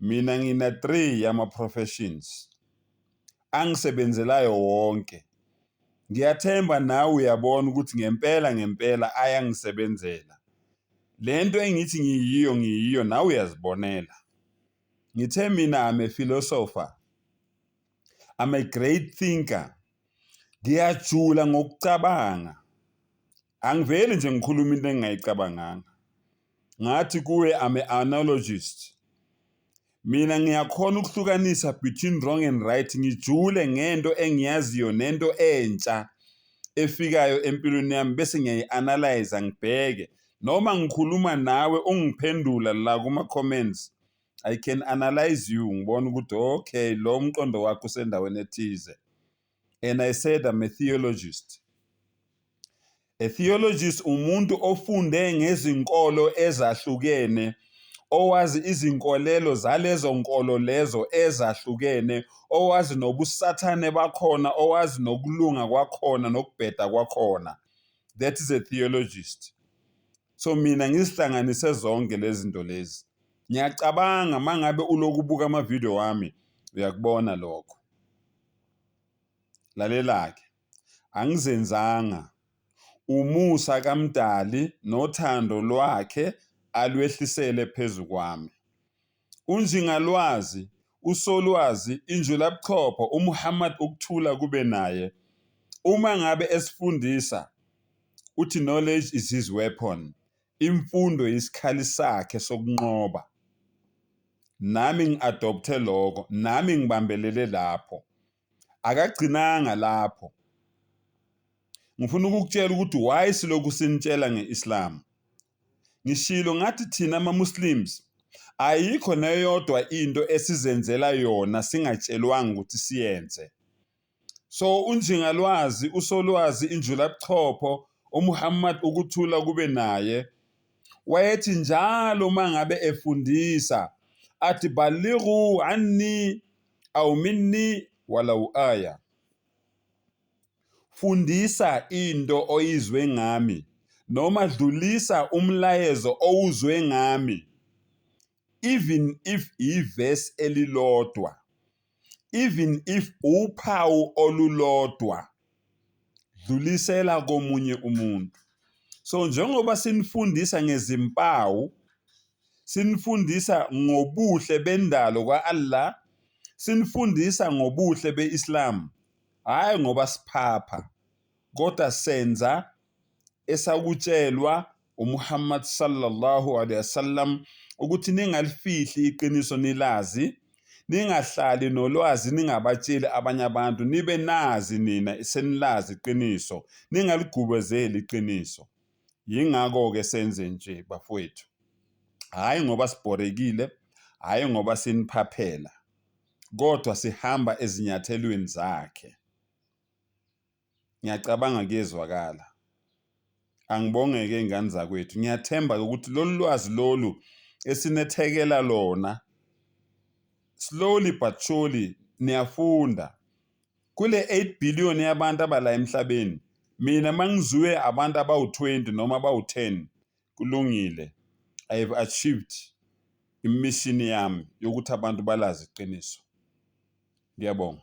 Mina ngina three yama professions angisebenzelayo wonke. Ngiyathemba nawe uyabona ukuthi ngempela ngempela ayangisebenzela. Le nto engithi ngiyiyo ngiyiyo nawe uyazibonela. Ngithe mina I'm a philosopher. I'm a great thinker. Ngiyajula ngokucabanga. Angiveli nje ngikhuluma into engingayicabanganga. Ngathi kuwe I'm a analogist. Mina ngiyakhona ukuhlukanisa between wrong and right ngijule ngento engiyaziyo nento entsha efikayo empilweni yami bese ngiyayi-analyze ngibheke noma ngikhuluma nawe ungiphendula la kuma-comments I can analyze you ngibona ukuthi okay lo mqondo wakho usendaweni ethize. and I said I'm a theologist. A theologist umuntu ofunde ngezinkolo ezahlukene owazi izinkolelo zalezo nkolo lezo ezahlukene owazi nobusathane bakhona owazi nokulunga kwakhona nokubheda kwakhona that is a theologist so mina ngizihlanganise zonke lezi zinto lezi ngiyacabanga mangabe ulokubuka ama-video wami uyakubona lokho Lalela-ke, Angizenzanga, umusa kaMdali nothando lwakhe alwehlisele phezu kwami. UNjingalwazi, uSolwazi, iNjulabuchopho, uMuhammad ukuthula kube naye, uma ngabe esifundisa, uthi knowledge is his weapon, Imfundo yisikhali sakhe sokunqoba. Nami ngi-adopthe lokho, nami ngibambelele lapho. Akagcinanga lapho. Ngifuna ukukutshela ukuthi why silokhu sinitshela nge-Islam. Ngishilo ngathi thina ama-Muslims ayikho neyodwa into esizenzela yona singatshelwanga ukuthi siyenze. So uNjingalwazi, uSolwazi, iNjulabuchopho, uMuhammad ukuthula kube naye, wayethi njalo uma ngabe efundisa athi balighu anni aw minni walau aya, fundisa into oyizwe ngami noma dlulisa umlayezo owuzwe ngami. even if iverse elilodwa even if uphawu olulodwa dlulisela komunye umuntu so njengoba sinifundisa ngezimpawu sinifundisa ngobuhle bendalo kwa-Allah sinifundisa ngobuhle be-Islam hhayi ngoba siphapha kodwa senza esakutshelwa uMuhammad sallallahu alaihi wasallam ukuthi ningalifihli iqiniso nilazi ningahlali nolwazi ningabatsheli abanye abantu nibe nazi nina senilazi iqiniso ningaligubezeli iqiniso yingakho-ke senze nje bafowethu hhayi ngoba sibhorekile hhayi ngoba siniphaphela kodwa sihamba ezinyathelweni zakhe Ngiyacabanga kuyezwakala. Angibongeke ngane zakwethu. Ngiyathemba ukuthi lolu lwazi lolu esinethekela lona slowly but surely niyafunda. Kule 8 billion yabantu abala emhlabeni mina mangizuwe abantu abawu-20 noma abawu-10 kulungile. I have achieved imishini yami yokuthi abantu balazi iqiniso. Ngiyabonga.